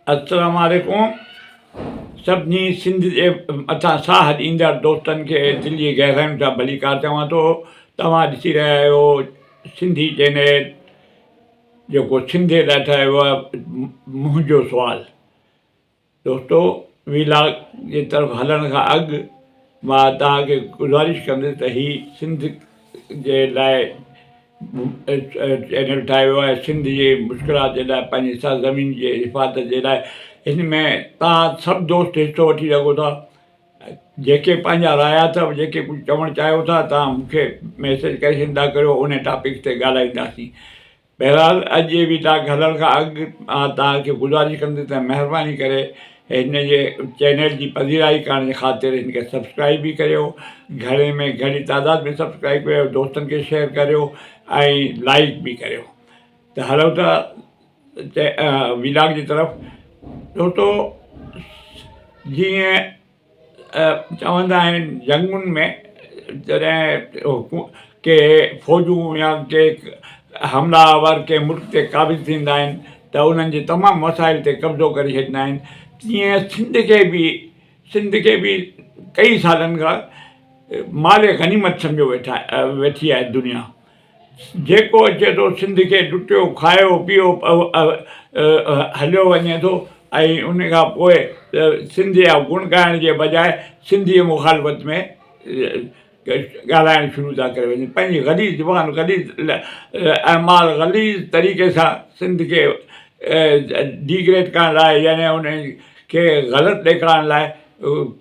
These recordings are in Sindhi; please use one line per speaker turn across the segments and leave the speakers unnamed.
السلام عليڪم سڀني سنڌ جي مٿان ساهه ڏيندڙ دوستن کي دل جي گهراين سان ڀليڪار چوان ٿو توهان ڏسي رهيا آهيو سنڌي چينل جيڪو سنڌي لاء ٺاهيو ويو آهي منهنجو سوال دوستو وي لاگ جي طرف هلڻ کان اڳ مان توهان کي گذارش ڪندس ته هي سنڌ جي لاء چينل ٺاهيو ويو آهي سنڌ جي مشڪلات جي لاء پنهنجي سرزمين جي حفاظت جي لاء هن ۾ توهان سڀ دوست حصو وٺي سگهو ٿا جيڪي پنهنجا رايا اٿو جيڪي ڪجهه چوڻ چاهيو ٿا توهان مون کي ميسج ڪري ڇڏيندا ڪريو ان ٽاپڪ تي ڳالهائينداسين بهرحال اڄ جي ويداڪ هلڻ کان اڳ مان توهان کي گذارش ڪندس ته مهرباني ڪري هن جي چينل جي پذيرائي ڪرڻ جي خاطر هن کي سبسڪرائيب به ڪريو گهڻي ۾ گهڻي تعداد ۾ سبسڪرائيب ڪريو دوستن کي شيئر ڪريو ۽ لائيڪ به ڪريو ته هلو ٿا ويداڪ جي طرف دوستو جيئن چوندا آهن جنگن ۾ جڏهن ڪي فوجون يا ڪي حملا آور ڪي ملڪ تي قابض ٿيندا آهن ته انهن جي تمام وسائل تي قبضو ڪري ڇڏيندا آهن تيئن سنڌ کي به سنڌ کي به ڪئي سالن کان مال غنيمت سمجهيو ويٺا ويٺي آهي دنيا جيڪو اچي ٿو سنڌ کي لٽيو کايو پيو هليو وڃي ٿو ۽ ان کان پوء سنڌ جا گڻ ڳائڻ جي بجاء سنڌ جي مخالفت ۾ ڳالهائڻ شروع ٿا ڪري وڃن پنهنجي غليظ زبان غليظ اعمال غليظ طريقي سان سنڌ کي ڊيگريڊ ڪرڻ لاء يعني ان کي غلط ڏيکارڻ لاء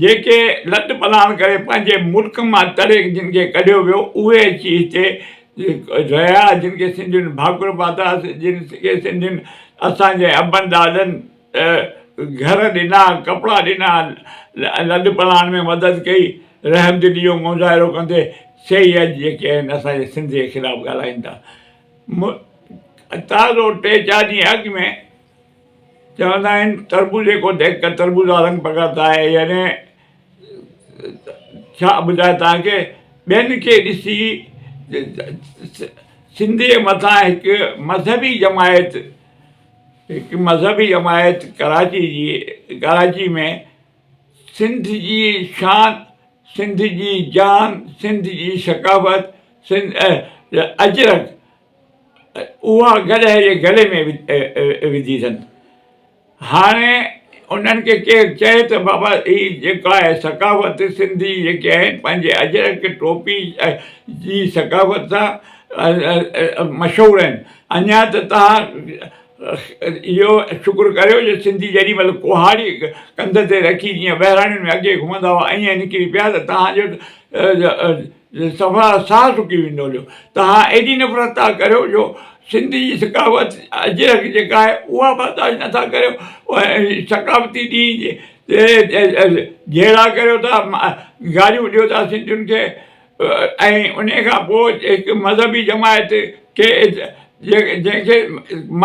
جيڪي لڏ پلاڻ ڪري پنهنجي ملڪ مان تڙي جن کي ڪڍيو ويو اهي اچي هتي رهيا جن کي سنڌين ڀاڪر پاتا جن کي سنڌين اسان جي ابن ڏاڏن گهر ڏنا ڪپڙا ڏنا لڏ پلاڻ ۾ مدد ڪئي رحمدلي جو مظاهرو ڪندي سي ئي اڄ جيڪي آهن اسان جي سنڌ جي خلاف ڳالهائين ٿا تازو ٽي چار ڏينهن اڳ ۾ چوندا آهن تربوزي ڪو ديک ڪر تربوزا رنگ پڪڙتا هي يعني ڇا ٻڌايان تنهن کي ٻين کي ڏسي سنڌي جي مٿان هڪ مذهبي جماعت هڪ مذهبي جماعت ڪراچي جي ڪراچي ۾ سنڌ جي شان سنڌ جي جان سنڌ جي ثقافت سنڌ اجرڪ اها گڏهه جي گلي ۾ وڌي اٿن. هاڻي انهن کي ڪير چئي ته بابا هي جيڪو آهي ثقافت سنڌي جيڪي آهن پنهنجي اجرڪ ٽوپي جي ثقافت سان مشهور آهن اڃا ته توهان اهو شڪر ڪريو جو سنڌي جيڏي مهل ڪهاڙي ڪنڌ تي رکي جيئن ٻهراڙين ۾ اڳي گهمندا هئا ائين نڪري پيا ته توهان جو صفا ساهه سڪي ويندو هليو. توهان ايڏي نفرت ٿا ڪريو جو سنڌ جي ثقافت اجرڪ جيڪا آهي اها برداشت نٿا ڪريو ۽ ثقافتي ڏينهن جي جهيڙا ڪريو ٿا گاريون ڏيو ٿا سنڌين کي ۽ ان کان پوء هڪ مذهبي جماعت کي جنهن کي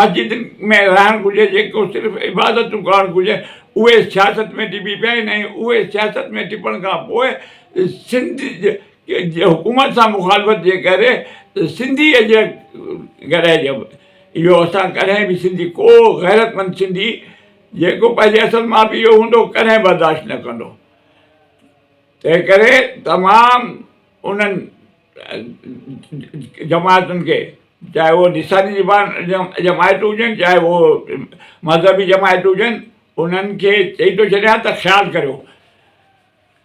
مسجد ۾ رهڻ گهرجي جيڪو صرف عبادتون ڪرڻ گهرجن اهي سياست ۾ ٽپي پيا آهن ۽ اهي سياست ۾ ٽپڻ کان پوء سنڌ جي حڪومت سان مخالفت جي ڪري سنڌي جي گھرائي جي اهو اسان ڪڏهن به سنڌي ڪو غيرتمند سنڌي جيڪو پنهنجي اصل ماء پيء جو هوندو ڪڏهن برداشت نه ڪندو تنهن ڪري تمام انهن جماعتن کي چاهي هو نصابي جماعت هجن چاهي هو مذهبي جماعت هجن انهن کي چئي ٿو ڇڏيان ته خيال ڪريو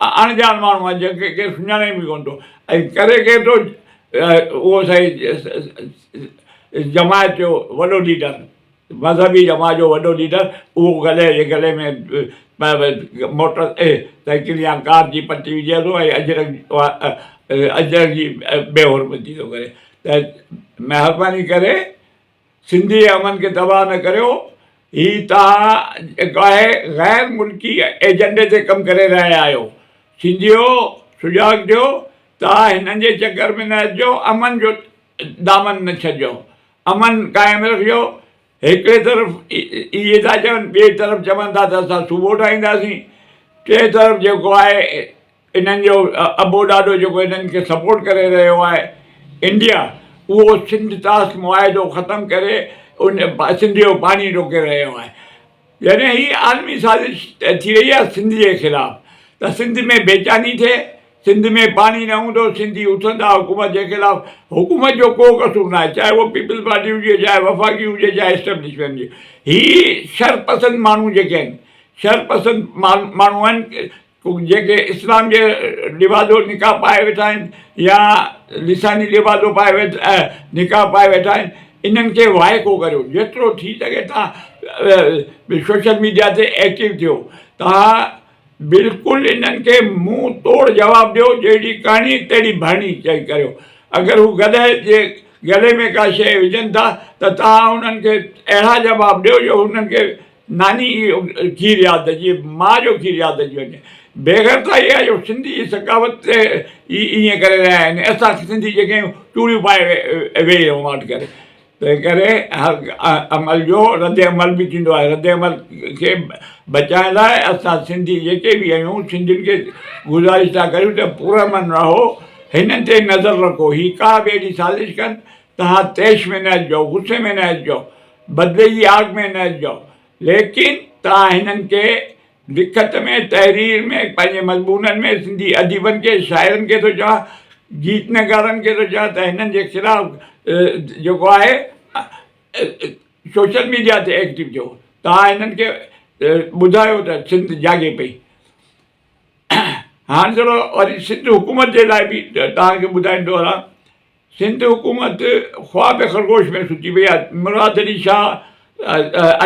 اڻڄاڻ ماڻهو آهي جنهن کي ڪير سڃاڻي به ڪونه ٿو ۽ ڪري ڪير ٿو اهو سائين جماعت جو وڏو ليڊر مذهبي جماعت جو وڏو ليڊر اهو گلي جي گلي ۾ موٽر سائيڪل يا ڪار جي پٽي وجهي ٿو ۽ اجرڪ اجرڪ جي بي حرمتي ٿو ڪري ته مهرباني ڪري سنڌي امن کي تباهه نه ڪريو هي توهان جيڪو آهي غير ملڪي ايجنڊي تي ڪم ڪري رهيا آهيو سنڌيو سجاڳ ٿيو توهان هنن جي چڪر ۾ نه اچجو امن جو دامن نه ڇڏجو امن قائم رکجو هڪڙي طرف اهي ٿا چون ٻئي طرف چون ٿا ته اسان صوبو ٺاهينداسين ٽئين طرف جيڪو آهي انهن جو ابو ڏاڏو جيڪو انهن کي سپورٽ ڪري رهيو آهي انڊيا اهو سنڌ طاس معاهدو ختم ڪري ان سنڌ جو پاڻي روڪي رهيو آهي جڏهن هي عالمي سازش ٿي رهي آهي سنڌ جي خلاف ته سنڌ ۾ بيچاني ٿئي سنڌ ۾ پاڻي نه هوندو سنڌي اٿندا حڪومت جي خلاف حڪومت جو ڪو قصور ناهي چاهي هو پيپلز پارٽي هجي چاهي وفاقي هجي چاهي اسٽيبلشمينٽ جي هي شر پسند ماڻهو جيڪي آهن شر پسند ماڻهو آهن جيڪي اسلام جي لبادو نقاب پائي ويٺا آهن يا لساني لبادو پائي ويٺا نقاب پائي ويٺا آهن انهن کي وائکو ڪريو جيترو ٿي سگهي تان سوشل ميڊيا تي ايڪٽو ٿيو تان بلڪل انهن کي منهن توڙ جواب ڏيو جهڙي ڪهڻي تهڙي ڀرڻي چئي ڪريو اگر هو گڏهه جي گلي ۾ ڪا شيء وجهن ٿا ته تان انهن کي اهڙا جواب ڏيو جو انهن کي ناني جو کير ياد اچي ماء جو کير ياد اچي وڃي بيغيرت اها آهي جو سنڌي جي ثقافت تي ئي ائين ڪري رهيا آهن اسان سنڌي جيڪي آهيون چوڙيون پائي ويهي رهون واٽ ڪري تنهن ڪري عمل جو رد عمل به ٿيندو آهي رد عمل کي بچائڻ لاء اسان سنڌي جيڪي به آهيون سنڌين کي گذارش ٿا ڪريون ته پر امن رهو هنن تي نظر رکو هي ڪا به اهڙي سازش ڪن تها تيش ۾ نه اچجو غصي ۾ نه اچجو بدلي جي آگ ۾ نه اچجو. ليڪن توهان هنن کي لکت ۾ تحرير ۾ پنهنجي مضمونن ۾ سنڌي اديبن کي شاعرن کي ٿو چوان گيت نگارن کي ٿو چوان ته هنن جي خلاف جيڪو آهي سوشل ميڊيا تي ايڪٽو ٿيو توهان هنن کي ٻڌايو ته سنڌ جاڳي پئي هاڻ ٿورو وري سنڌ حڪومت جي لاء به توهان کي ٻڌائيندو هلان سنڌ حڪومت خواب خرگوش ۾ سچي وئي آهي مراد علي شاهه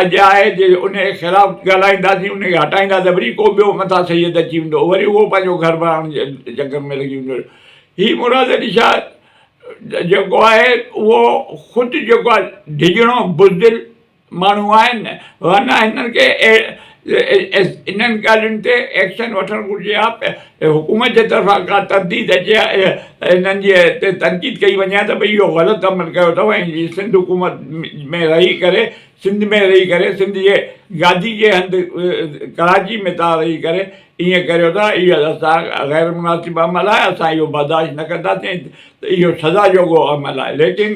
اڄ آهي جي ان جي خلاف ڳالهائينداسين ان کي هٽائيندا ته وري ڪو ٻيو مٿا سيد اچي ويندو وري اهو پنهنجو گهر بڻائڻ جي چڪر ۾ لڳي ويندو هي مراد علي شاهه جيڪو آهي اهو خود جيڪو آهي ڊڄڻو بزدل ماڻهو آهن ورنه هنن کي انهن ڳالهين تي ايڪشن وٺڻ گهرجي ها حڪومت جي طرفان ڪا ترديد اچي ها انهن جي تي تنقيد ڪئي وڃي ها ته ڀئي اهو غلط عمل ڪيو اٿو ۽ جي سنڌ حڪومت ۾ رهي ڪري سنڌ ۾ رهي ڪري سنڌ جي گادي جي هنڌ ڪراچي ۾ تان رهي ڪري ائين ڪريو ٿا اهي اسان غير مناسب عمل آهي اسان اهو برداشت نه ڪنداسين ته اهو سزا جوڳو عمل آهي ليڪن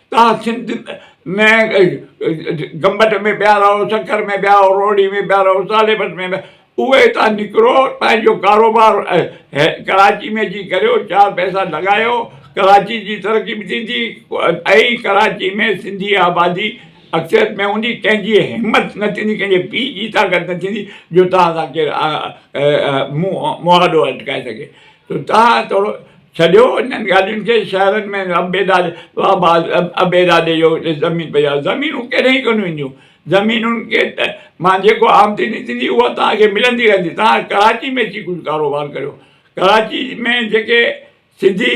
تان سنڌ ۾ گمبٽ ۾ پيا رهو سکر ۾ پيا رهو روهڙي ۾ پيا رهو ساليبس ۾ پيا اهي هتان نڪرو پنهنجو ڪاروبار ڪراچي ۾ اچي ڪريو چار پئسا لڳايو ڪراچي جي ترقي به ٿيندي ۽ ڪراچي ۾ سنڌي آبادي اڪثر ۾ هوندي ڪنهن جي همت نه ٿيندي ڪنهن جي پي جي طاقت نه ٿيندي جو تان سان ڪير مهاڏو اٽڪائي سگهي تو تان ٿورو ڇڏيو انهن ڳالهين کي شهرن ۾ عبيدا عبيدا ڏي جو اتي زمين پئي آهي زمينون ڪيڏانهن ئي ڪونه وينديون زمينن کي ته مان جيڪو آمدني ٿيندي اها توهان کي ملندي رهندي توهان ڪراچي ۾ اچي ڪجهه ڪاروبار ڪريو ڪراچي ۾ جيڪي سنڌي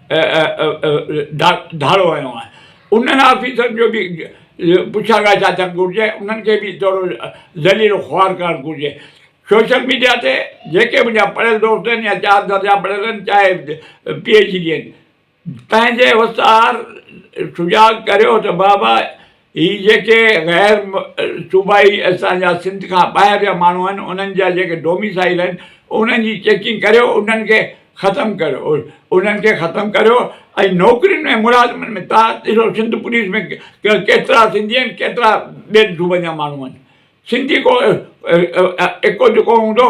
ڌاڙو هنيو آهي انهن آفيسرن جو به پڇا ڳاڇا ٿيڻ گهرجي انهن کي به ٿورو ذليل و خوار ڪرڻ گهرجي سوشل ميڊيا تي جيڪي منهنجا پڙهيل دوست آهن يا چار درجا پڙهيل آهن چاهي پي ايڇ ڊي آهن پنهنجي استاد سجاڳ ڪريو ته بابا هي جيڪي غير صوبائي اسان جا سنڌ کان ٻاهر جا ماڻهو آهن انهن جا جيڪي ڊوميسائيل آهن انهن جي چيڪنگ ڪريو انهن کي ختم ڪريو انهن کي ختم ڪريو ۽ نوڪرين ۾ ملازمن ۾ تان ڏسو سنڌ پوليس ۾ ڪيترا سنڌي آهن ڪيترا ٻين صوبن جا ماڻهو آهن سنڌي ڪو اڪو جڪو هوندو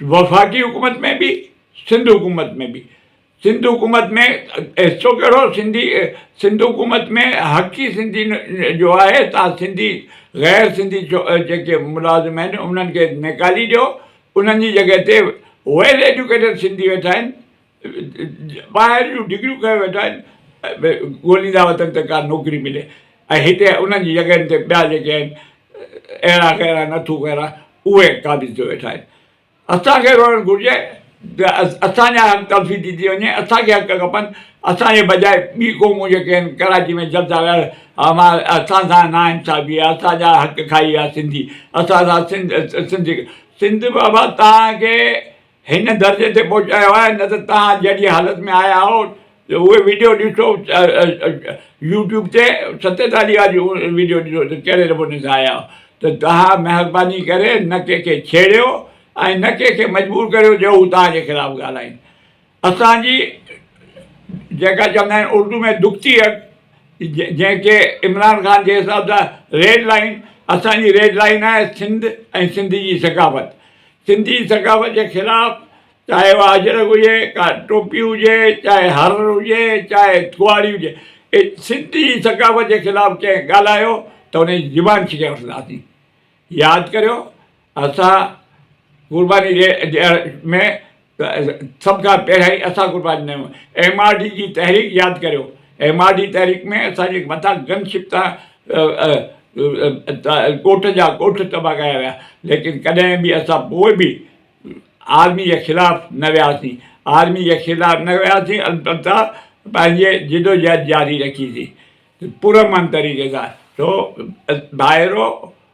وفاقي حڪومت ۾ به سنڌ حڪومت ۾ به سنڌ حڪومت ۾ حصو ڪهڙو سنڌي سنڌ حڪومت ۾ حق ئي سنڌي جو آهي تان سنڌي غير سنڌي جيڪي ملازم آهن انهن کي نيڪالي ڏيو انهن جي جڳهه تي ويل ايجوڪيٽيڊ سنڌي ويٺا آهن ٻاهر جون ڊگريون کنيو ويٺا آهن ڳوليندا وتن ته ڪا نوڪري ملي ۽ هتي انهن جي جڳهين تي ٻيا جيڪي آهن اهڙا غيرا نٿو غيرا اهي قابض ٿيو ويٺا آهن اسان کي روئڻ گهرجي ته اسان جا حق تلفي ٿي ٿي وڃي اسان کي حق کپن اسان جي بجاء ٻي قومون جيڪي آهن ڪراچي ۾ جلسا ويا امان اسان سان نا انصافي آهي اسان جا حق کائي ويا سنڌي اسان سان سنڌ سنڌ سنڌ بابا تان کي هن درجي تي پهچايو آهي نه ته توهان جهڙي حالت ۾ آيا آهو جو اهي ويڊيو ڏسو يوٽيوب تي ستي تاليا جي ويڊيو ڏسو ته ڪهڙي نموني سان آيا آهو ته توهان مهرباني ڪري نه ڪنهن کي ڇيڙيو ۽ نه ڪنهن کي مجبور ڪريو جو هو توهان جي خلاف ڳالهائين اسان جي جيڪا چوندا آهن اردو ۾ دکتي اڳ جنهن کي عمران خان جي حساب سان ريڊ لائين اسان جي ريڊ لائين آهي سنڌ ۽ سنڌ جي ثقافت سنڌي ثقافت جي خلاف چاهي اها اجرڪ هجي ڪا ٽوپي هجي چاهي هر هجي چاهي ٿوهاڙي هجي سنڌي ثقافت جي خلاف ڪنهن ڳالهايو ته ان جي زبان ڇڪي وٺنداسين ياد ڪريو اسان قرباني ڏيڻ ۾ ته سڀ کان پهريائين اسان قرباني ڏنو ايم آر ڊي جي تحريڪ ياد ڪريو ايم آر ڊي تحريڪ ۾ اسان جي مٿان گن شپ تان ڳوٺ جا ڳوٺ تباهه ڪيا ويا ليڪن ڪڏهن به اسان پوء به آرمي جي خلاف نه وياسين آرمي جي خلاف نه وياسين البته پنهنجي جدوجهد جاري رکيسين پرامن طريقي سان سو ڀائرو